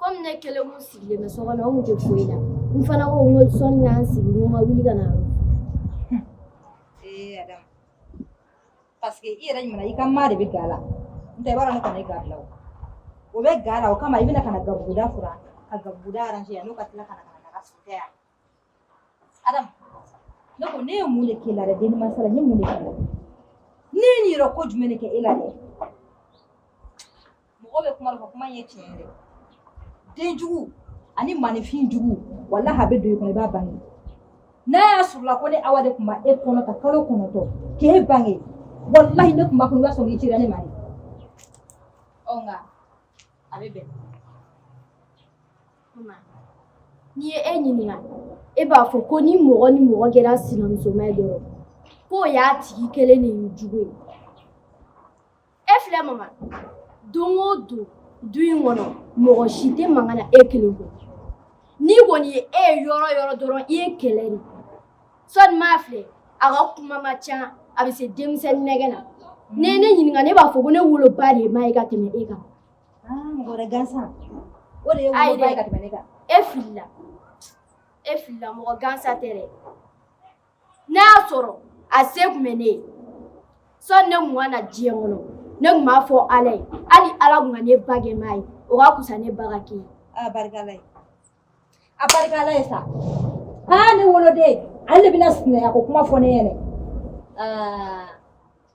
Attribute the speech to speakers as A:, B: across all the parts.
A: Kɔmi ne kelen kun sigilen bɛ so kɔnɔ n kun tɛ foyi la n fana ko n ko sɔni ka n sigi n ko n ka wuli ka na ee
B: Adam parce que i yɛrɛ ɲuman i ka maa de bɛ ga la n tɛ i b'a dɔn ne kɔni ye ga bila o o bɛ ga la o kama i bɛna ka na gabuguda furan ka gabuguda arranger yan n'o ka tila ka na ka na daga sigi tɛ yan Adam ne ko ne ye mun de k'i la dɛ denni mansa la n ye mun de k'i la ne ye nin yɛrɛ ko jumɛn de kɛ e la dɛ mɔgɔ bɛ kuma dɔ fɔ kuma in ye tiɲɛ ye dɛ den jugu ani maninfin jugu walahi a bɛ don i kɔnɔ i b'a bange n'a y'a sɔrɔla ko ne Awa de tun ma e kɔnɔ ka kalo kɔnɔntɔn k'e bange walahi ne tun b'a fɔ i b'a sɔrɔ i cira ne ma de ɔ nka a bɛ bɛn
A: N'i ye e ɲininka e b'a fɔ ko ni mɔgɔ ni mɔgɔ kɛra sinamusoma ye dɔrɔn k'o y'a tigi kɛlen de ye jugu ye e filɛ mama don o don du in kɔnɔ mɔgɔ si tɛ mankan na e kelen kɔ n'i kɔni ye e ye yɔrɔ o yɔrɔ dɔrɔn i ye kɛlɛ de sɔni maa filɛ a ka kuma ma ca a bɛ se denmisɛnnin nɛgɛn na n'i ye ne ɲininka ne b'a fɔ ko ne woloba de ye maa ye ka tɛmɛ e kan Mɔgɔ
B: wɛrɛ gansan o de ye woloba ye ka tɛmɛ ne kan. E
A: filila e filila mɔgɔ gansan tɛ dɛ n'a y'a sɔrɔ a se tun bɛ ne ye sɔni ne tun ka na diɲɛ kɔnɔ ne tun b'a fɔ Ala ye hali Ala tun ka ne ba kɛ maa ye o ka fisa ne ba ka kɛ e ye. A barika Ala
B: ye a barika Ala ye sa aa ne woloden ale de bɛna sinaya ko kuma fɔ ne ɲɛna aa.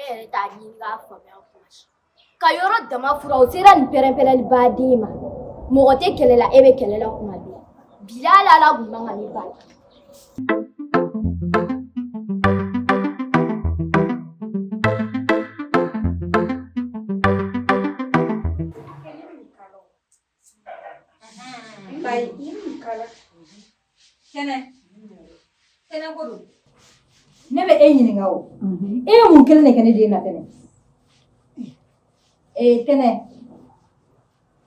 A: e yɛrɛ t'a ɲini k'a faamuya kuma si ka yɔrɔ dama fura o sera nin pɛrɛnpɛrɛnli ba de ma mɔgɔ tɛ kɛlɛ la e bɛ kɛlɛ la kuma bɛɛ bilahi ala kun man kan ne ba ye
B: Kay kala. Tɛnɛ. Tɛnɛ ko don. Ne bɛ e ɲininka o. E ye mun kelen de kɛ ne den na Tɛnɛ? Ee Tɛnɛ.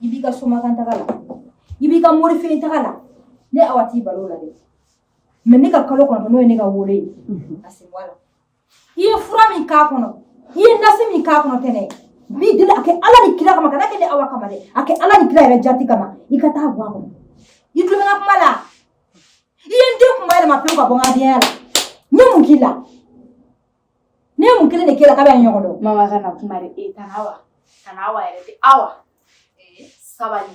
B: I b'i ka somakan taga la. I b'i ka mori fɛ taga la. Ne Awa t'i bali o la dɛ. Mais ne ka kalo kɔnɔntɔn n'o ye ne ka wolo ye. A sen bɔ a la. i ye fura min k'a kɔnɔ i ye nasi min k'a kɔnɔ tɛnɛ n b'i deli a kɛ ala ni kira kama kan'a kɛ ne awa kama dɛ a kɛ ala ni kira yɛrɛ jati kama i ka t'a bɔ a kɔnɔ i tulo bɛ n ka kuma la i ye n den kunba yɛlɛma pewu ka bɔ n ka denya la n ye mun k'i la ne ye mun kelen de k'i la k'an bɛ ɲɔgɔn dɔn mama kana kuma dɛ
C: e kana wa kana wa yɛrɛ tɛ awa sabali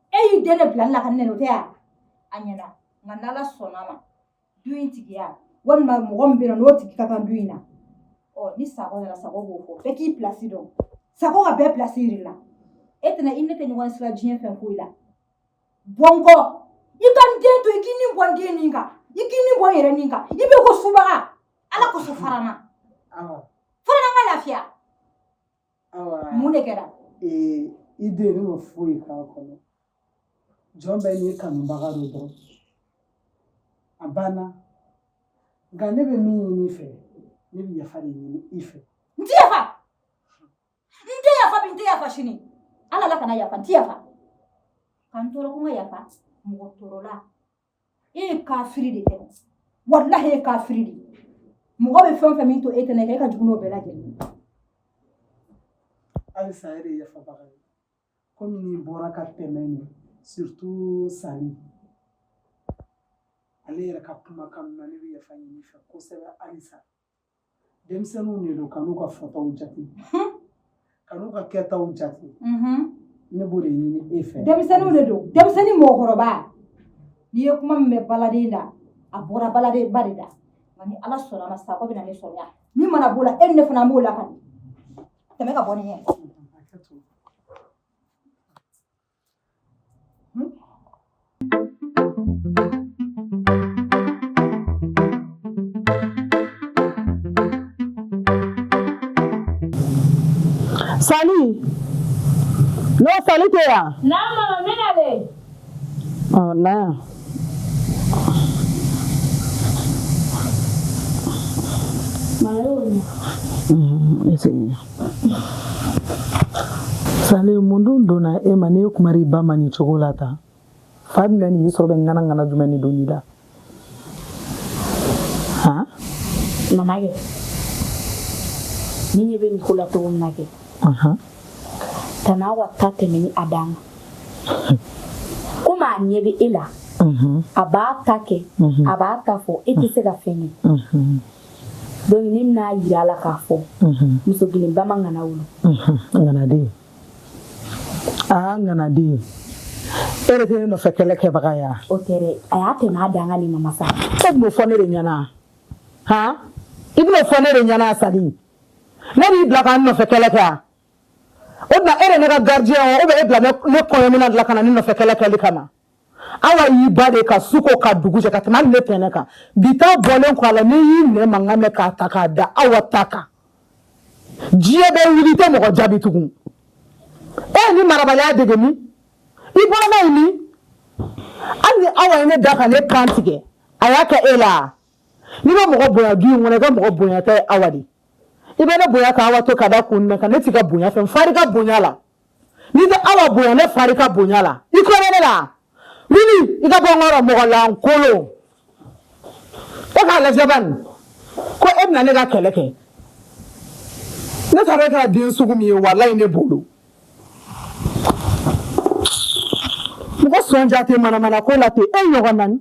B: e y'i den de bila ne la ka ne nɛni o tɛ yan a ɲɛna nka n'ala sɔnna a ma du in tigiya walima mɔgɔ min bɛ yen nɔ n'o tigi ka kan du in na ɔ ni sago nana sago b'o fɔ bɛɛ k'i pilasi dɔn sago ka bɛɛ pilasi yir'i la e tɛnɛ i ni ne tɛ ɲɔgɔn sira diɲɛ fɛn foyi la bɔ n kɔ i ka n den to i k'i ni bɔ n den nin kan i k'i ni bɔ n yɛrɛ nin kan i bɛ ko subaga ala kosɔn fara n na fara n na n ka lafiya mun de kɛra
D: i den ne ma foyi k'a kɔnɔ jɔn bɛɛ n'i kanubaga don dɔrɔn a banna nka ne bɛ min ɲini i fɛ ne bɛ yafa de ɲini i fɛ n tɛ
B: yafa n tɛ yafa bi n tɛ yafa sini ala la kana yafa n tɛ yafa ka n tɔɔrɔ ko n ka yafa mɔgɔ tɔɔrɔla e ye kafiri de ye walahi e ye kafiri de mɔgɔ bɛ fɛn fɛn min to e tɛnɛ kɛ e ka jugu n'o bɛɛ lajɛlen
D: halisa e de yafabaga ye komi n'i bɔra ka tɛmɛ nin surtout sali ale yɛrɛ ka kumakan na ne bɛ yafa ɲini i fɛ kosɛbɛ halisa denmisɛnninw de don kan'u ka fɔtaw jate kan'u ka kɛtaw jate ne b'o de ɲini e fɛ denmisɛnninw de don denmisɛnnin
B: mɔgɔkɔrɔba n'i ye kuma min bɛ baladen da a bɔra baladen ba de da nka ni ala sɔnna a ma sakɔ bɛna ne sɔrɔ yan min mana b'o la e ni ne fana b'o la ka tɛmɛ ka bɔ n ɲɛ
E: Sali no sali ke ya na mama mina
C: le oh
E: na Mayo. Mm, ese. sali mun dun donna e ma n'i ye kuma di i ba ma nin cogo la tan fa bɛna nin y'i sɔrɔ bɛ ŋana ŋana jumɛn de donn'i la han mama kɛ
C: ne ɲɛ bɛ nin ko la cogo min na kɛ tan awa ta tɛmɛnen a dan kan komi a ɲɛ bɛ e la a b'a ta kɛ a b'a ta fɔ e tɛ se ka fɛn kɛ donc ne bɛn'a jira a la k'a fɔ mɔgɔ kelen ba ma ŋana wolo
E: ŋanaden aa ŋanaden e yɛrɛ tɛ ne nɔfɛ kɛlɛ kɛbaga ye wa o tɛ dɛ a y'a
C: tɛmɛ a dan kan nin mama sa e b'o fɔ ne
E: de ɲɛna han i b'o fɔ ne de ɲɛna a sali ne d'i bila ka na n nɔfɛ kɛlɛ kɛ wa o tuma e de ye ne ka gardien ye wa ou bien e bila ne kɔɲɔminan de la ka na ne nɔfɛ kɛlɛ kɛli kama awa y'i ba de ka su ko ka dugu jɛ ka tɛmɛ hali ne tɛnɛ kan bi ta bɔlen kɔ a la n'i ye ne mankan mɛn k'a ta k'a da awa ta kan diɲɛ bɛ wuli i tɛ mɔgɔ jaabi tugun e ye nin marabaliya dege min i bɔra n'a ye min hali ni awa ye ne da ka ne kan tigɛ a y'a kɛ e la n'i bɛ mɔgɔ bonya du in kɔnɔ i ka mɔgɔ bonya tɛ awa de i bɛ ne bonya ka awa to ka da kun mun kan ne t'i ka bonya fɛ n far'i ka bonya la n'i tɛ awa bonya ne fari ka bonya la i kɔnɔ ne la wuli i ka bɔ n kɔrɔ mɔgɔ lankolon e k'a lajɛ bani ko e bɛna ne ka kɛlɛ kɛ ne taara e kɛra den sugu min ye walayi ne bolo mɔgɔ sɔnja tɛ manamana ko la ten e ɲɔgɔn nani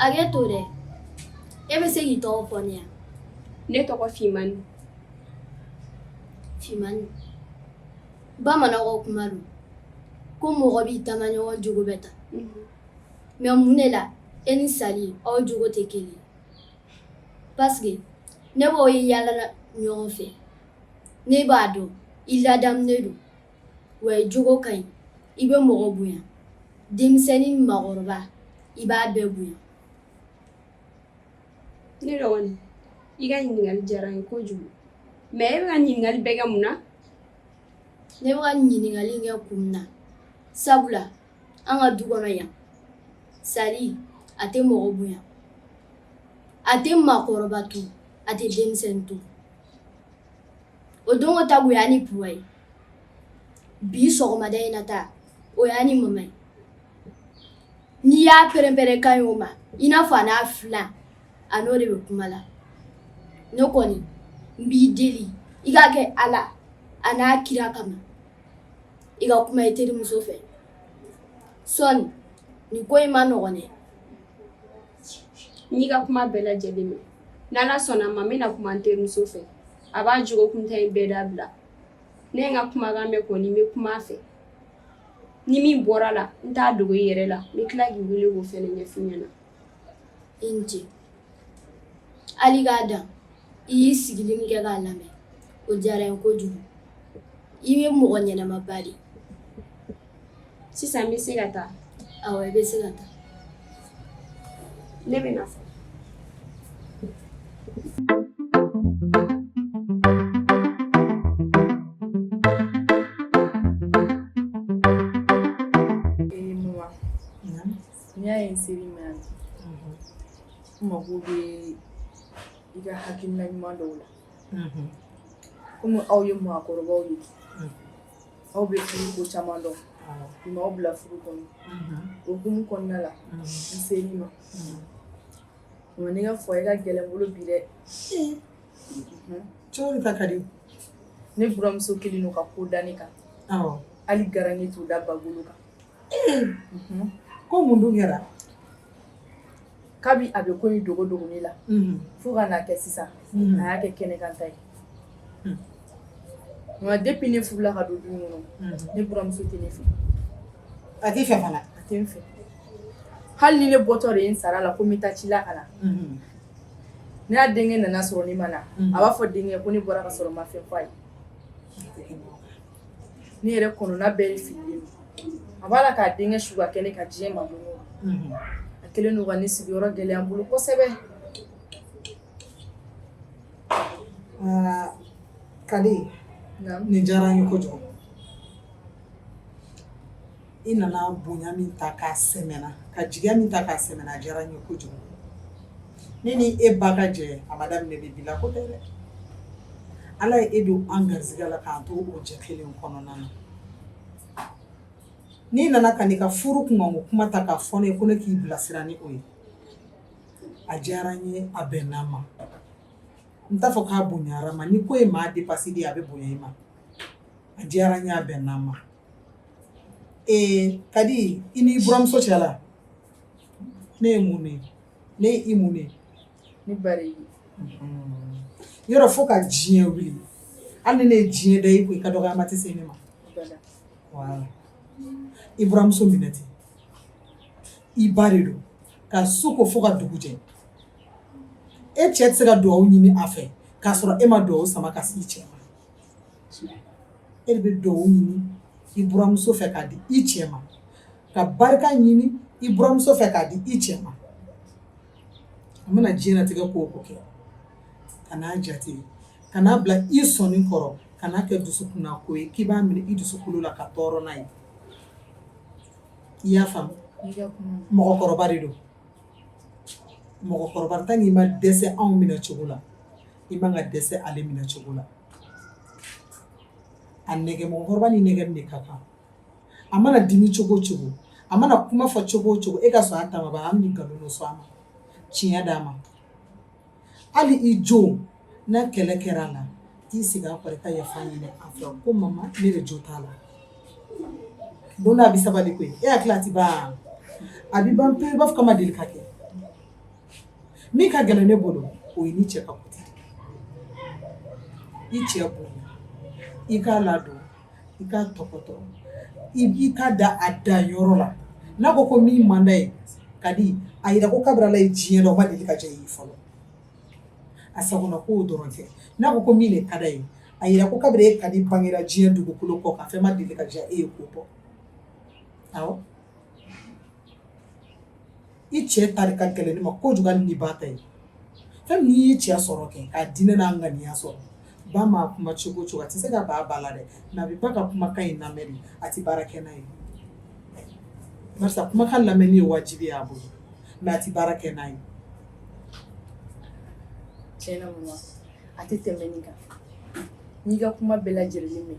A: Hakɛ to dɛ e bɛ se k'i tɔgɔ fɔ n ye wa ne
F: tɔgɔ
A: fimani fimani bamananw kuma don ko mɔgɔ b'i taamaɲɔgɔn jogo bɛɛ ta mɛ mun ne la e ni sali aw jogo tɛ kelen Paseke ne b'aw ye yaala ɲɔgɔn fɛ ne b'a dɔn i ladamunen don wa i jogo ka ɲi i bɛ mɔgɔ bonya denmisɛnnin mɔgɔkɔrɔba i b'a bɛɛ bonya
F: ne dɔgɔnin i ka ɲininkali diyara n ye kojugu mɛ e bɛ ka ɲininkali bɛɛ kɛ mun
A: na ne bɛ ka ɲininkali kɛ kun min na sabula an ka du kɔnɔ yan sali a tɛ mɔgɔ bonya a tɛ mɔgɔkɔrɔba to a tɛ denmisɛn to o don ta bonya ni p ye bi sɔgɔmada in na ta o y'a ni mama ye n'i y'a pɛrɛnpɛrɛnkan ye o ma i n'a fɔ a n'a filan a n'o de bɛ kuma la ne kɔni n b'i deli i k'a kɛ ala a n'a kira kama i ka kuma i terimuso fɛ sɔni ko in man nɔgɔn
F: dɛ n y'i ka kuma bɛɛ lajɛlen mɛn ni ala sɔnna a ma n bɛna kuma n terimuso fɛ a b'a jogo kuntan in bɛɛ dabila ne ye n ka kumakan mɛn kɔni n bɛ kuma a fɛ ni min bɔra a la n t'a dogo i yɛrɛ la n bɛ tila k'i wele k'o fɛnɛ ɲɛfɔ i ɲɛna i
A: ni ce hali k'a dan i y'i sigili min kɛ k'a lamɛn o diyara n ye kojugu i ye mɔgɔ ɲɛnamaba de sisan
F: n bɛ se ka taa awɔ i bɛ se ka
A: taa
F: ne bɛ
G: na fɔ N'i y'a ye n ser'i ma yan n mago bɛ i ka hakilina ɲuman dɔw la kɔmi aw ye mɔgɔkɔrɔbaw ye aw bɛ furu ko caman dɔn maaw bila furu kɔnɔ o hukumu kɔnɔna la n ser'i ma nka ne ka furu in ka gɛlɛn n bolo bi
E: dɛ cogo ta ka di ne
G: buranmuso kɛlen don ka ko da n kan hali garankɛ t'o da ba golo kan
E: ko mun dun kɛra
G: kabi a bɛ ko in dogo dogo ne la fo ka n'a kɛ sisan a y'a kɛ kɛnɛkanta ye nka depuis ne furula ka don du in kɔnɔ ne buramuso tɛ ne fɛ
E: a t'i fɛ fana a tɛ n
G: fɛ hali ni ne bɔtɔ de ye n sara la ko n bɛ taa ci la ka na n'a denkɛ nana sɔrɔ ne ma na a b'a fɔ denkɛ ko ne bɔra ka sɔrɔ n ma fɛn f'a ye Ne yɛrɛ kɔnɔna bɛɛ ye fili ye a b'a la k'a denkɛ su ka kɛ ne ka diɲɛ ma a kɛlen don ka ne sigiyɔrɔ gɛlɛya n bolo kosɛbɛ
E: aa Kadi nin diyara n ye kojugu I nana bonya min ta k'a sɛmɛ n na ka jigiya min ta k'a sɛmɛ n na a diyara n ye kojugu ne ni e ba ka jɛ a ma daminɛ bi bi la ko tɛ dɛ ala ye e don an garisigɛ la k'an to o jɛ kelen kɔnɔna na n'i nana ka n'i ka furu kunkanko kuma ta k'a fɔ n ye ko ne k'i bilasira ni o ye a diyara n ye a bɛnna n' ma n t'a fɔ k'a bonyara n ma ni ko ye maa dépassé a bɛ bonya i ma a diyara n ye a bɛnna n' ma Ee Kadi i n'i buramuso cɛ la ne ye mun ye ne ye i mun ye ne ba yɔrɔ fo ka diɲɛ wuli hali ni ne ye diɲɛ da i ko i ka dɔgɔyama tɛ se ne ma voilà i buramuso minɛ ten i ba de don ka su ko fo ka dugu jɛ e cɛ tɛ se ka dugawu ɲini a fɛ k'a sɔrɔ e ma dugawu sama ka se i cɛ e de bɛ dugawu ɲini i buramuso fɛ k'a di i cɛ ma ka barika ɲini i buramuso fɛ k'a di i cɛ ma a mana diɲɛlatigɛ ko o ko kɛ kan'a jate kan'a bila i sɔnin kɔrɔ kan'a kɛ dusukunna ko ye k'i b'a minɛ i dusukolo la ka tɔɔrɔ n'a ye i y'a faamu mɔgɔkɔrɔba de don mɔgɔkɔrɔba tant n'i ma dɛsɛ anw minɛ cogo la i man ka dɛsɛ ale minɛ cogo la a nɛgɛ mɔgɔkɔrɔba ni nɛgɛ de ka kan a mana dimi cogo o cogo a mana kuma fɔ cogo o cogo e ka sɔn a ta ma ba an nkalon sɔn a ma tiɲɛ d'a ma hali i jo na kɛlɛ kɛra a la t'i sigi a kɔrɔ ka yafa ɲini a fɛ ko mama ne de jo t'a la don a bɛ sabali koyi e hakili la a tɛ ban a bɛ ban pewu i b'a fɔ k'a ma deli ka kɛ min ka gɛlɛn ne bolo o ye ni cɛ ka kote i cɛ bonya i k'a ladon i k'a tɔpɔtɔ i k'a da a da yɔrɔ la n'a ko ko min man d'a ye ka di a jira ko kabiri Ala ye diɲɛ da o ma deli ka diya e ye fɔlɔ a sagona kow dɔrɔn kɛ n'a ko ko min de ka d'a ye a jira ko kabiri e ka di bangera diɲɛ dugukolo kɔ kan fɛn ma deli ka diya e ye k'o bɔ i cɛ ta de ka gɛlɛn ne ma kojugu hali ni ba ta ye fɛn min n'i y'i cɛ sɔrɔ kɛ k'a diinɛ n'a ŋaniya sɔrɔ ba ma kuma cogo cogo a tɛ se ka ban ba la dɛ a bɛ ba ka kumakan in lamɛn de a tɛ baara kɛ n'a ye barisa kumakan lamɛnni ye wajibi y'a bolo mɛ a tɛ baara kɛ n'a
G: ye tiɲɛna mama a tɛ tɛmɛ nin kan n'i ka kuma bɛɛ lajɛlen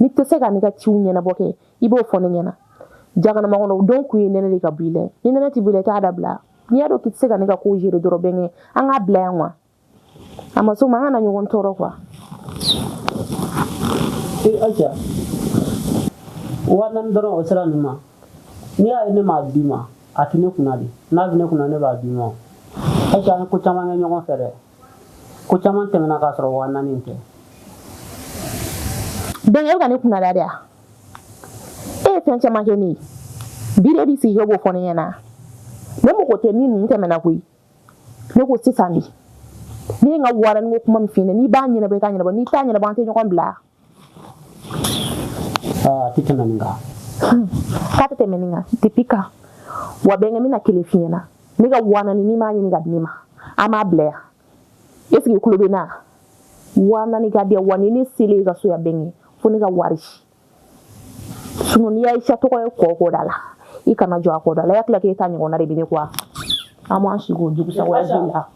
H: n'i tɛ se ka ne ka ciw ɲɛnabɔ kɛ i b'o fɔ ne ɲɛna jaganama kɔnɔ o don kun ye nɛnɛ de ka bɔ i la ni nɛnɛ tɛ bɔ i la i t'a dabila n'i y'a dɔn k'i tɛ se ka ne ka kow gérer dɔrɔn bɛnkɛ an k'a bila yan wa a ma s'o ma an kana ɲɔgɔn tɔɔrɔ
I: quoi e eh, Ayisa waa naani dɔrɔn o sera ninnu ma n'i y'a ye ne m'a d'i ma a tɛ ne kunna de n'a bɛ ne kunna ne b'a d'i ma Ayisa an ye ko caman kɛ ɲɔgɔn fɛ dɛ ko caman tɛmɛna k'a sɔrɔ waa naani
H: tɛ bɛnkɛ e bɛ ka ne kunnada de wa e ye fɛn caman kɛ ne ye bi de b'i sigi k'e b'o fɔ ne ɲɛna ne mago tɛ min ninnu tɛmɛna koyi ne ko sisan de ne ye n ka warinin ko kuma min f'i ɲɛna n'i b'a ɲɛnabɔ i k'a ɲɛnabɔ n'i t'a ɲɛnabɔ an tɛ ɲɔgɔn bila
I: A tɛ tɛmɛ nin kan.
H: Hmm. K'a tɛ tɛmɛ nin kan, depuis quand. Wa bɛnkɛ n bɛna kelen f'i ɲɛna. Ne ka waa naani n'i m'a ɲini ka di ne ma, an b'a bila yan. Est ce que i tulo bɛ n na? Waa naani ka di yan wa ni ne selen i ka so yan bɛnkɛ, fo ne ka wari. Sinon n'i Ayisa tɔgɔ ye ko o ko da la, i kana jɔ a ko da la. I hakili la k'e ta ɲɔgɔnna de bɛ ne kɔ wa? An b'an sigi o jugusa wɛrɛ b'i la.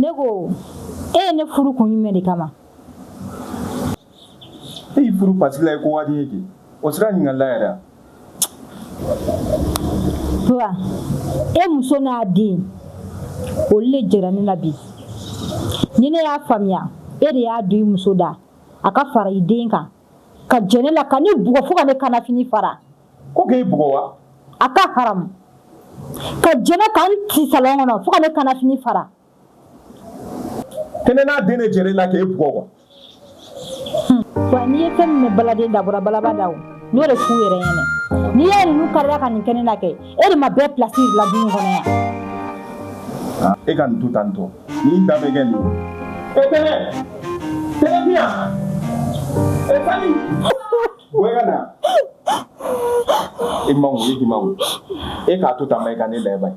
B: Ne ko e ye ne furu kun jumɛn de kama
J: n y'i furu parce que la i ko ka di n ye kɛ o sera ɲininkali la yɛrɛ
B: wa e muso n'a den olu le jɛra ne la bi ni ne y'a faamuya e de y'a don i muso da a ka fara i den kan ka jɛ ne la ka ne bugɔ fo ka ne kanafini fara ko k'e bugɔ
J: wa a ka haramu
B: ka jɛ ne ka n ci salɔn kɔnɔ fo ka ne kanafini fara
J: kɛnɛ n'a den de jɛra i la k'e bugɔ
B: kuwa. wa n'i ye fɛn min mɛn baladen da bɔra balaba da o n y'o de f'u yɛrɛ ɲɛna n'i y'a ye ninnu karila ka nin kɛ ne na kɛ e de ma bɛɛ pilasi la du in kɔnɔ yan e ka nin to
J: tan tɔ n'i da bɛ kɛ nin ye. e tɛnɛ tɛnɛ bi yan e fali bɔ i ka na i makun i k'i makun e k'a to tan ba i ka ne layɛ ba ye.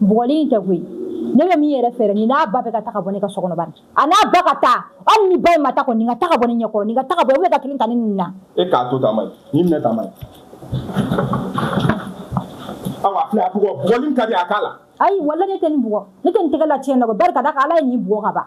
B: bugɔli in tɛ koyi ne bɛ min yɛrɛ fɛ dɛ nin n'a ba bɛɛ ka taa ka bɔ ne ka so kɔnɔ bani a n'a ba ka taa hali ni ba in ma taa kɔni nin ka taa ka bɔ ne ɲɛkɔrɔ nin ka taa ka bɔ e bɛ ka kelen ta ninnu na e k'a
J: to
B: taama
J: ni minɛ taama ye awa filɛ a bugɔ bugɔli ka di a k'a la ayi wala ne tɛ nin
B: bugɔ ne tɛ nin tɛgɛ la tiɲɛ na ko barika da ka ala ye nin bugɔ ka ban